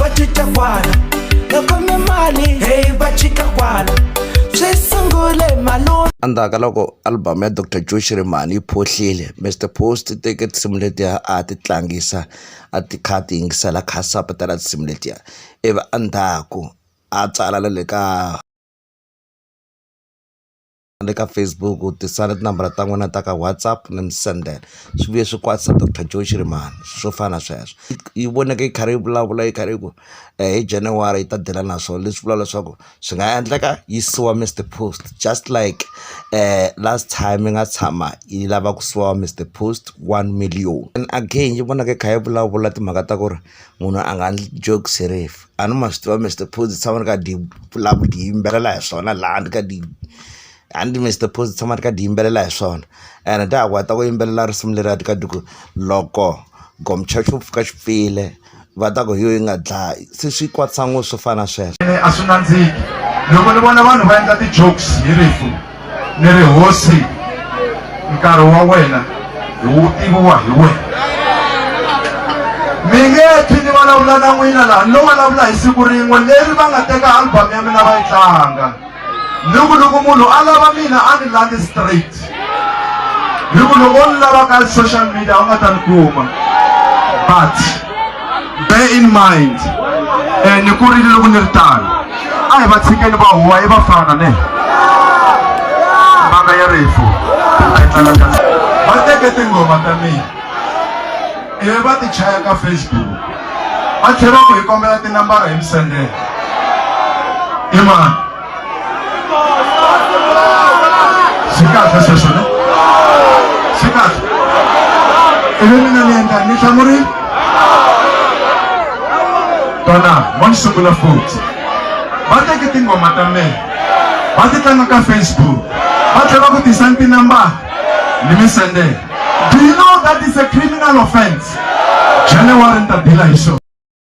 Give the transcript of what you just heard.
va cinca kwala loko mi mali heyi va cinca kwala swi sungule malume endzhaku ka loko album ya dr joe xirimani yi phohlile mr post teke tinsimu letiya a ti tlangisa a ti kha ti yingisela kha sapatela tinsimu letiya ivi endzhaku a tsala le ka le ka facebook u tisa ni tinambara ta n'wina ta ka whatsapp ni mi sendela swi vuye swi kwatisa doctor joe xirimani swo fana na sweswo yi voneke yi karhi yi vulavula yi karhi yi ku eh, hi january yi ta dela na swona leswi vula leswaku swi nga endleka yi siwa mr post just like um last time yi nga tshama yi lava ku siwa mr post one million and again yi vonaka yi kha yi vulavula timhaka ta ku ri munhu a nga jokes hi rifu a ni ma swi tiva Mister Phozi tshama ni ka di vulaka di yimbelela hi swona laha ni ka di a ni Mister Phozi tshama ni ka di yimbelela hi swona ene ta ha ku heta ku yimbelela risimu leriya ti ka ti ku loko gomchurch xo pfuka xi pfile va ta ku hi yo yi nga dlayi se swi kwatisa ngo swo fana sweswo a swi nandziki loko ni vona vanhu va endla ti-jokes hi rifu ni ri hosi nkarhi wa wena hi wu tiviwa hi wena mi nge thi ni vulavula na n'wina laha no vulavula hi siku rin'we leri va nga teka album ya mina va yi tlanga ni ku loko munhu a lava mina a ni landi straight ni ku loko o ni lava ka social media u nga ta ni kuma but bear in mind eh, ni kurile loko ni ri tano a hi va tshikeni va huwa i va fana ne mbanga ya rifu va teke tinghoma ta mina ivi va ti chaya ka facebook va tlhela ku hi kombela tinambara hi mi sendela i mani swi kahle sweswo ne swi kahle ivi mina ni endla ni hlamurile tona mo ni sungula futhi va teke tinghoma ta mina va ti tlanga ka facebook va tlhela ku tisa ni tinambara ni mi sendela do you know that is a criminal offense january ni ta dila hi swona